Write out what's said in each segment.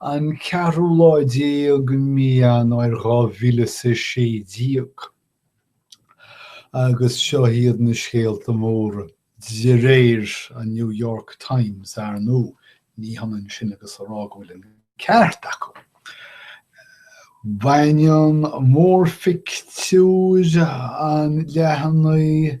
An ceathrú lá déag de mhí Eanáir dhá mhíle is a sé déag. Agus seo iad na scéalta móra, de réir an New York Times, ar ndóigh, ní hionann sin agus a rá go bhfuil an ceart acu. Baineann mórphictiúr an leathanaigh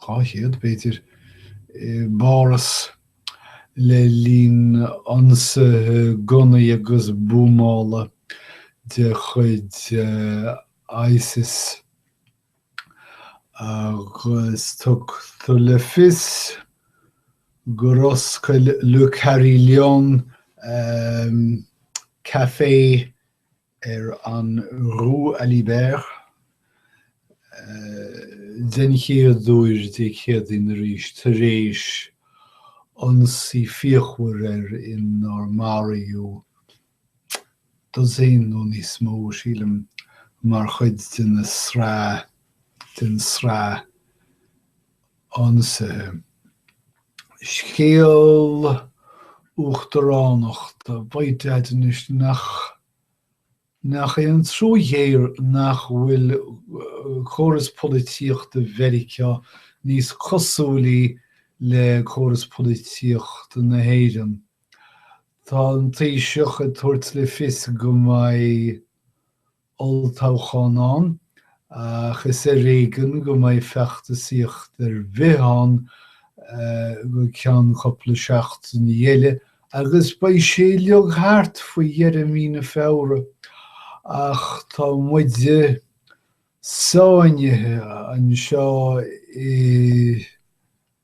200, b'fhéidir, i bPáras le linn ionsaithe gunnaí agus buamála de chuid ISIS agus tugtar le fios gur oscail Le Carillon café ar an Rue Alibert den chéad uair Dé Céadaoin arís tar éis ionsaí fíochmhar air inar maraíodh dosaen nó níos mó, sílim, mar chuid den tsraith ionsaithe. Scéal uachtaránachta b'fhéidir anois nach nach é an trua ghéar nach bhfuil córas polaitíochta Mheiriceá níos cosúilí le córas polaitíochta na hÉireann. Tá an Taoiseach ag tabhairt le fios go mbeidh olltoghchán ann, ach is ar éigean go mbeidh feachtasaíocht ar bith ann go ceann cupla seachtain eile, agus beidh sé uilig thart faoi dheireadh mhí na Feabhra, ach tá muide sáinnithe anseo i.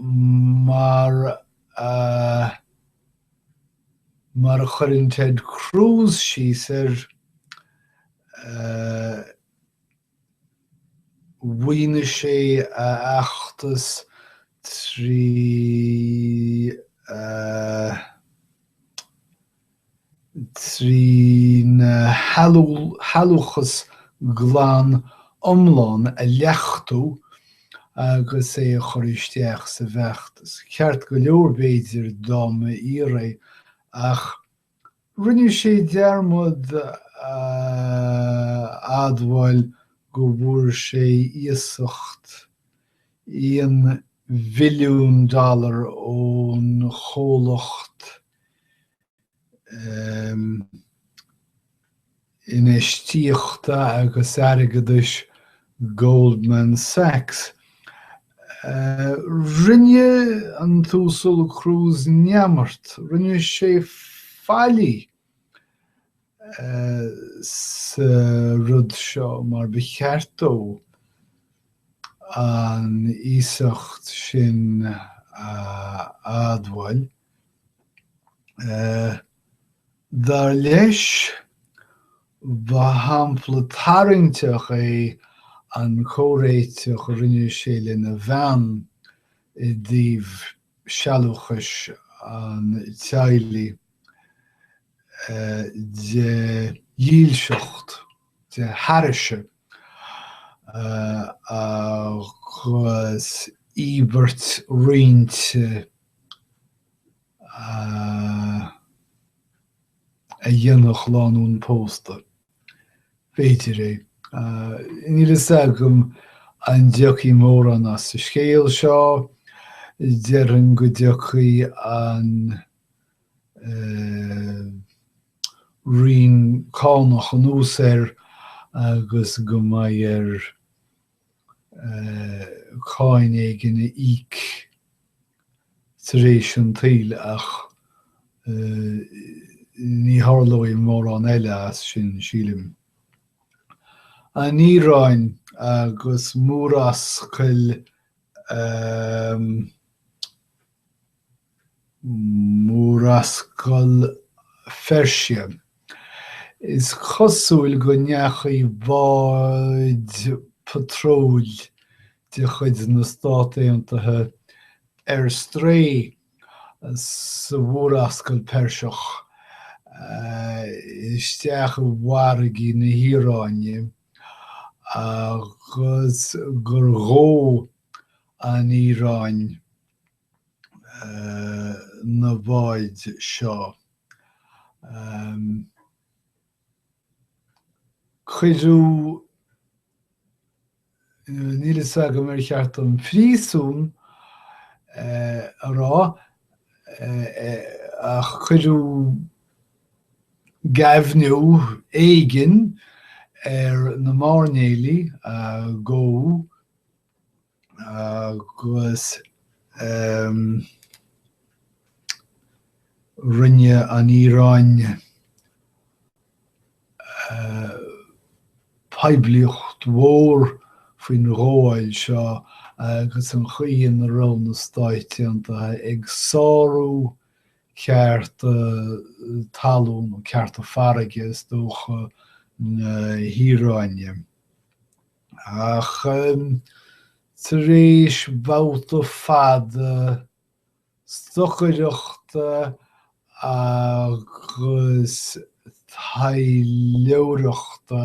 mar a mar a chuireann Ted Cruz síos air mhaoinigh sé a fheachtas trí trína shealúchas glan iomlán a leachtú agus é a chur isteach sa bhfeachtas. Ceart go leor, b'fhéidir, dá mba fhíor é, ach rinne sé dearmad a admháil go bhfuair sé iasacht aon mhilliún dollar ón chomhlacht infheistíochta agus airgeadais Goldman Sachs. Rinne an tUasal Cruz neamart, rinne sé faillí sa rud seo mar ba cheart dó an iasacht sin a admháil. Dar leis, ba shampla tarraingteach é an comhréiteach a rinne sé lena bhean i dtaobh sealúchais an teaghlaigh de dhílseacht, de thairise, agus íobairt roinnte. a dhéanadh lánúin pósta. B'fhéidir é. Níl a fhios agam an dtiocfaidh mórán as sa scéal seo. Déarfainn go dtiocfaidh an Roinn Cánach anuas air agus go mbeidh air cáin éigin a íoc tar éis an tsaoil ach ní tharlóidh mórán eile as sin, sílim. An Iaráin agus Murascaill na. Murascaill Pheirsia. Is cosúil go ndeachaigh báid patróil de chuid na Stát Aontaithe ar strae sa Mhurascaill Pheirseach isteach i bhfarraigí na hIaráine agus gur ghabh an Iaráin, na báid seo. Cuireadh, níl fhios agam ar cheart dom príosún a rá, ach cuireadh géibheannú éigin ar na máirnéalaigh a gabhadh, agus rinne an Iaráin poiblíocht mhór faoin ghabháil seo agus an chaoi ina raibh na Stáit Aontaithe ag sárú cearta talún nó cearta farraige, is dócha, na hIaráine. Ach tar éis babhta fada stocaireachta agus taidhleoireachta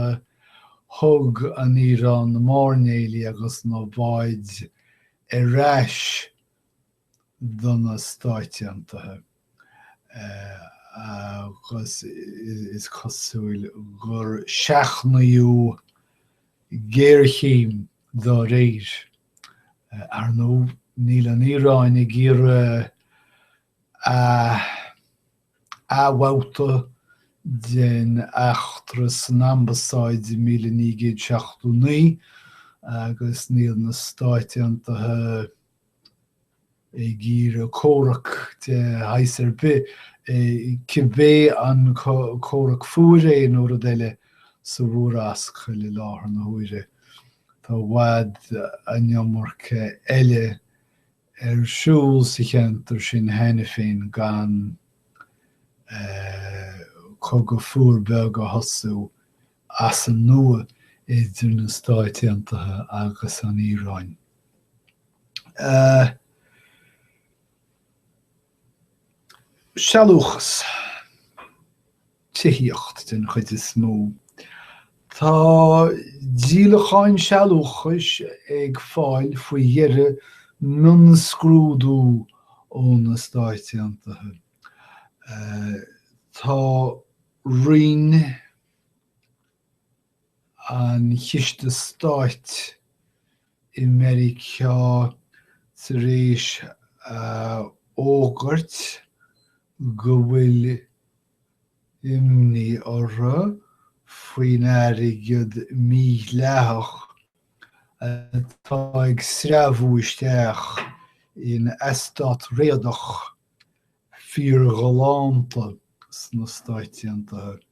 thug an Iaráin na mairnéalaigh agus na báid ar ais. do na Stáit Aontaithe agus is cosúil gur seachnaíodh géarchéim dá réir. Ar ndóigh, níl an Iaráin ag iarraidh a athbhabhta den eachtra san ambasáid i míle naoi gcéad seachtó naoi agus níl na Stáit Aontaithe ag iarraidh comhrac de shaghas ar bith, cibé an comhrac fuar é nó rud eile, sa Mhurascaill i láthair na huaire. Tá i bhfad an iomarca eile ar siúl sa cheantar sin cheana féin gan cogadh fuar beag a thosú as an nua idir na Stáit Aontaithe agus an Iaráin. Sealúchas, tithíocht den chuid is mó. Tá díolacháin sealúchais ag fáil faoi dheireadh mionscrúdú ó na Stáit Aontaithe. Tá roinn. an Chiste Stáit i Meiriceá tar éis a fhógairt go bhfuil imní orthu faoin airgead mídhleathach atá ag sreabhadh isteach in eastát réadach fíorghalánta sna Stáit Aontaithe.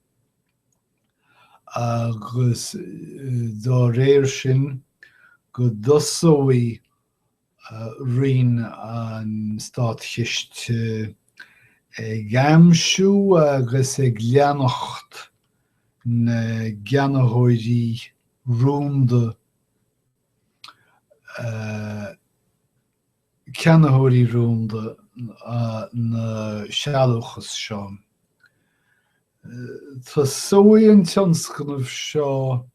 agus dá réir sin go dtosóidh Roinn an Státchiste ag aimsiú agus ag leanacht na gceannaitheoirí rúnda a ceannaitheoirí rúnda na sealúchas seo. Tosóidh an tionscnamh seo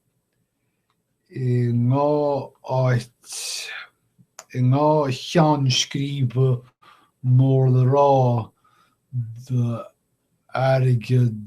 i ndhá áit, i ndhá cheann scríbe mór le rá d'airgead.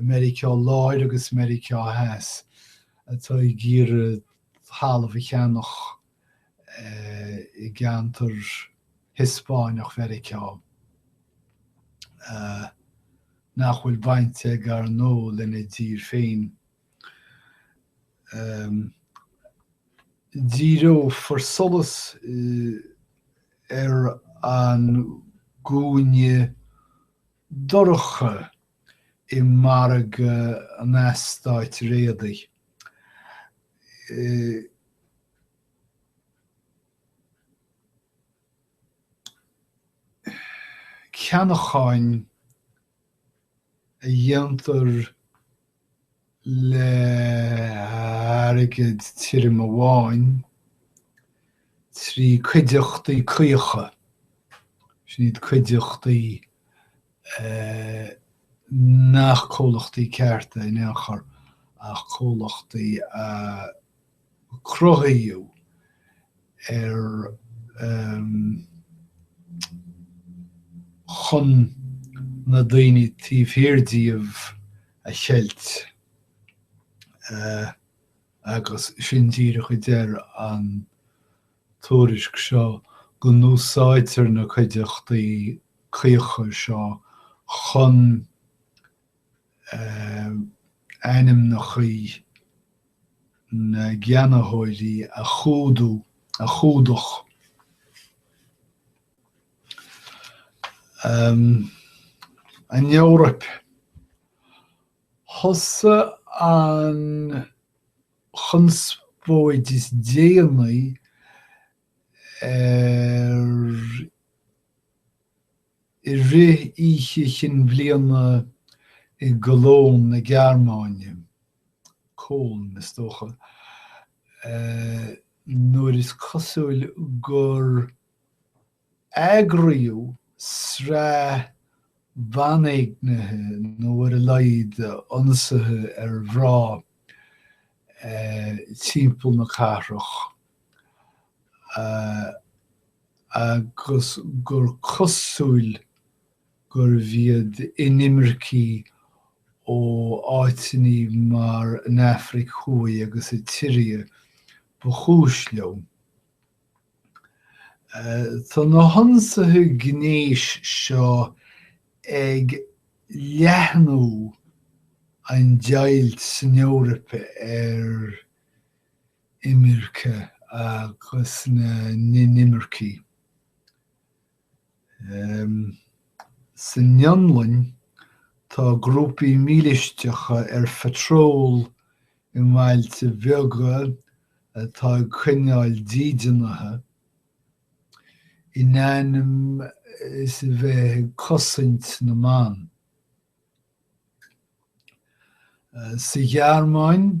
Meiriceá Láir agus Meiriceá Theas atá ag iarraidh talamh a cheannach i gceantar Hiospáineach Mheiriceá nach bhfuil baint acu ar ndóigh lena dtír féin. Díreofar solas ar an gcúinne dorcha i margadh an eastáit réadaigh. Ceannacháin a dhéantar. le hairgead tirim amháin, trí cuideachtaí caocha, sin iad cuideachtaí nach comhlachtaí cearta in aon chor ach comhlachtaí a. cruthaíodh chun na daoine taobh thiar díobh a cheilt agus sin díreach a deir an tuairisc seo go n-úsáidtear na cuideachtaí caocha seo chun ainmneacha na gceannaitheoirí a chumhdach. An Eoraip. Thosaigh an chonspóid is déanaí ar. I rith Oíche Chinn Bhliana i gCologne na Gearmáine, Köln is dócha, nuair is cosúil gur eagraíodh sraith banéignithe nó ar a laghad ionsaithe ar mhrá timpeall na cathrach, agus gur cosúil gurbh iad inimircigh ó áiteanna mar an Afraic Thuaidh agus an tSiria ba chúis leo. Tá na hionsaithe gnéis seo ag leathnú an deighilt san Eoraip ar. imirce agus na n-inimircigh. San Fhionlainn, tá grúpaí mílisteacha ar phatról i mbailte beaga atá ag coinneáil dídeanaithe, in ainm is a bheith ag cosaint na mban. Sa Ghearmáin,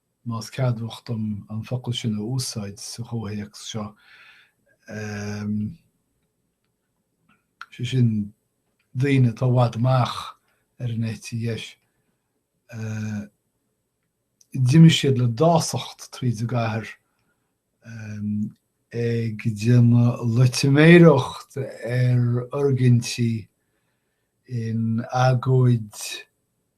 más ceadmhach dom an focal sin a úsáid sa chomhthéacs seo, em, sé sin daoine atá i bhfad amach ar an eite dheis, eh, d'imigh siad le dásacht tríd an gcathair, em, ag déanamh loitiméireacht ar fhoirgintí in agóid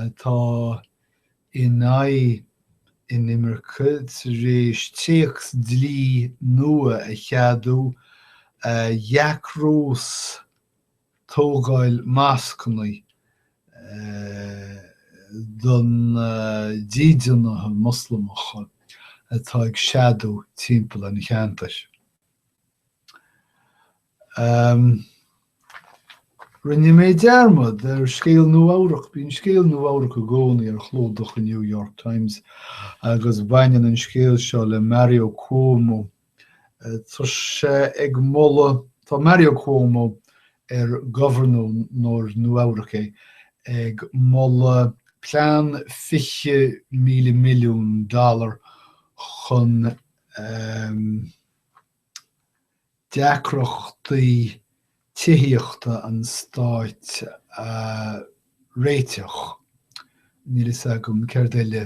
atá in aghaidh inimirce tar éis téacs dlí nua a cheadú a dheacrós tógáil moscanna do na dídeanaithe Moslamacha atá ag seadú timpeall an cheantair. Rinne mé dearmad ar scéal Nua Eabhrac. Bíonn scéal Nua Eabhrac i gcónaí ar chlúdach an New York Times agus baineann an scéal seo le Mario Cuomo. Tá sé ag moladh, tá Mario Cuomo, ar gobharnóir Nua Eabhrac é, ag moladh plean 20,000 milliún dollar chun, deacrachtaí tithíochta an stáit a réiteach, níl a fhios agam céard eile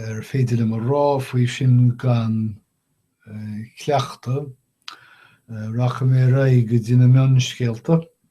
is féidir liom a rá faoi sin gan cleachtadh. Rachaidh mé ar aghaidh go dtí na mionscéalta.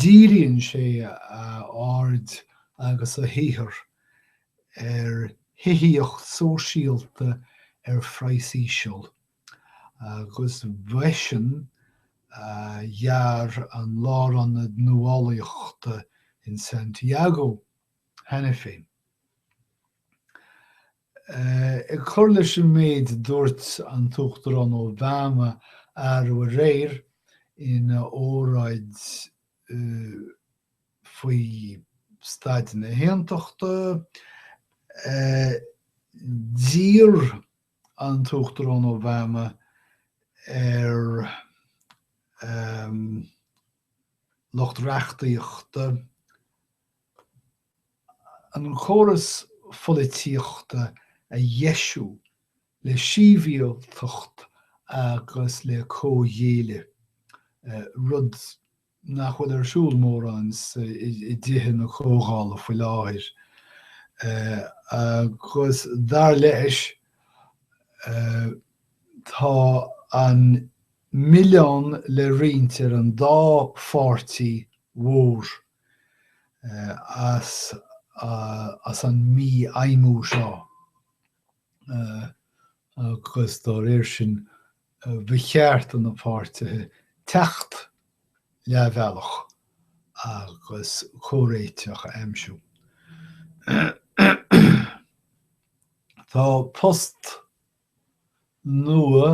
Díríonn sé a aird agus a shaothar ar thithíocht sóisialta ar phraghas íseal, agus ba eisean a dhear an Lárionad Nuálaíochta in Santiago cheana féin. Ag cur leis an méid a dúirt an tUachtarán Obama arú aréir ina óráid faoi staid na hAontachta, d'iarr an tUachtarán Obama ar lucht reachtaíochta an córas polaitíochta a dheisiú le síbhialtacht agus le comhghéilleadh, rud nach bhfuil ar siúl mórán i dTithe na Comhdhála faoi láthair, agus dar leis tá an milleán le roinnt ar an dá pháirtí mhór as an mífheidhmiú seo agus dá réir sin ba cheart do na páirtithe teacht leath bealaigh agus comhréiteach a aimsiú. Tá post. nua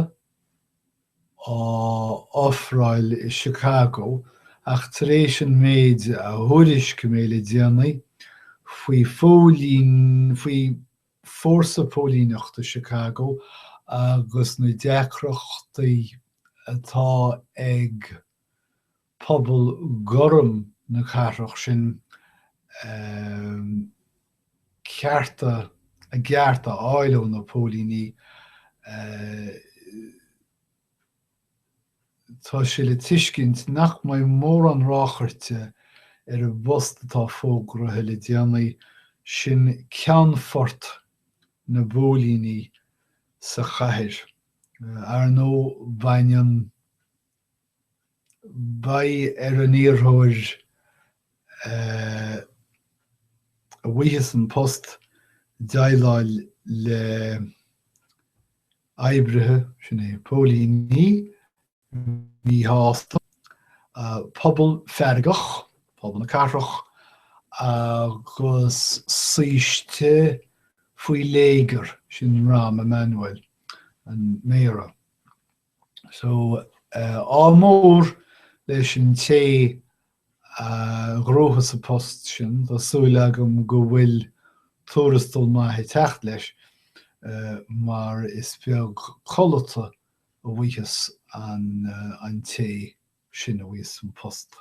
á ofráil i Chicago ach tar éis an méid a thuairiscigh mé le déanaí faoi phóilín, faoi fórsa póilíneachta Chicago agus na deacrachtaí atá ag. pobal gorm na cathrach sin a cearta a gcearta a fháil ó na póilíní. Tá sé le tuiscint nach mbeidh mórán ráchairte ar an bpost atá fógraithe le déanaí, sin ceannfort na bpóilíní sa chathair. Ar nó, baineann. Beidh ar an iarrthóir a bhfaigheas an post déileáil le oibrithe, sin é, póilíní míshásta, pobal feargach, pobal na cathrach, agus saoiste faoi léigear, sin Rahm Emanuel, an Méara. So, ádh mór leis an té a ghnóthós an post sin, tá súil agam go bhfuil tuarastal maith ag teacht leis, mar is beag codlata a bhfuigheas an té sin a bhfaigheas an post.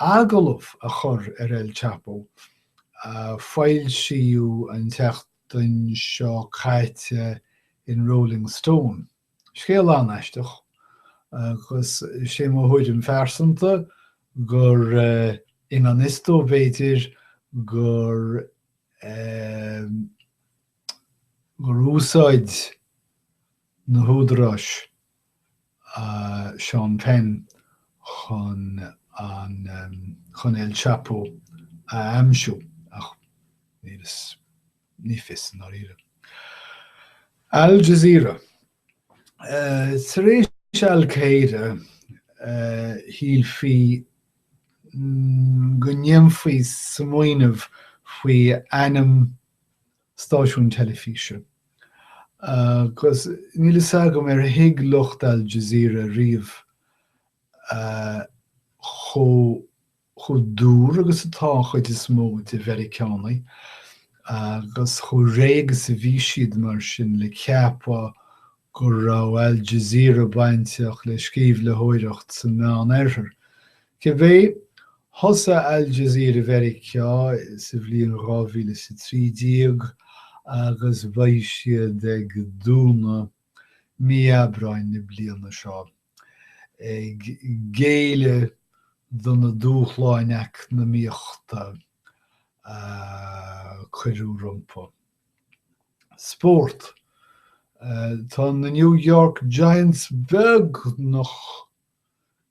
agallamh a chur ar El Chapo, a foilsíodh an tseachtain seo caite in Rolling Stone. Scéal an-aisteach, agus sé mo thuairim phearsanta gur i ngan fhios dó, b'fhéidir, gur, gur úsáid, na húdaráis Sean Penn chun an chun El Chapo a aimsiú, ach ní fios i ndáiríre. Al Jazeera Tar éis Al Qaeda, shílfí go ndéanfaí smaoineamh faoi ainm stáisiúin teilifíse, agus níl fhios agam ar thuig lucht Al Jazeera ariamh chomh dúr agus atá an chuid is mó de Mheiriceánaigh agus chomh réidh is a bhí siad, mar sin, le ceapadh go raibh Al Jazeera bainteach le sceimhlitheoireacht sa Meán-Oirthear. Cibé, thosaigh Al Jazeera Mheiriceá sa bhliain dhá mhíle is a trí déag agus beidh siad ag dúnadh mí Aibreáin na bliana seo, ag géilleadh do na dúshláin eacnamaíochta a cuireadh rompu. Spórt Tá na New York Giants beagnach.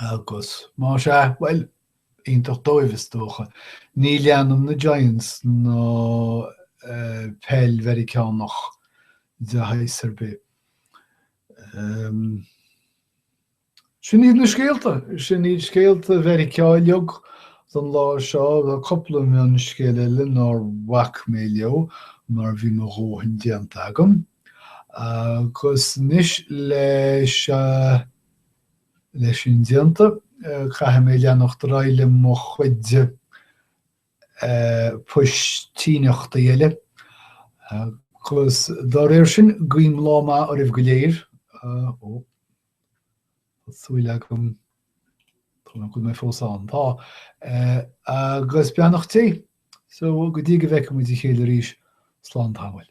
Agus más é, bhuel, iontach dóibh is dócha. Ní leanaim na Giants ná peil Mheiriceánach de shaghas ar bith. Sin iad na scéalta, sin iad scéalta Mheiriceá uilig don lá seo, bhí cúpla mionscéal eile nár bhac mé leo mar bhí mo dhóthain déanta agam. Agus anois leis an. Leis sin déanta, caithfidh mé leanacht ar aghaidh le mo chuid poistíneachtaí eile agus dá réir sin, guím lá maith oraibh go léir. Ó, tá súil agam go bhfuil mé fós ann. Tá. Agus beannacht Dé. So go dtí go bhfeicfidh muid a chéile arís, slán tamaill.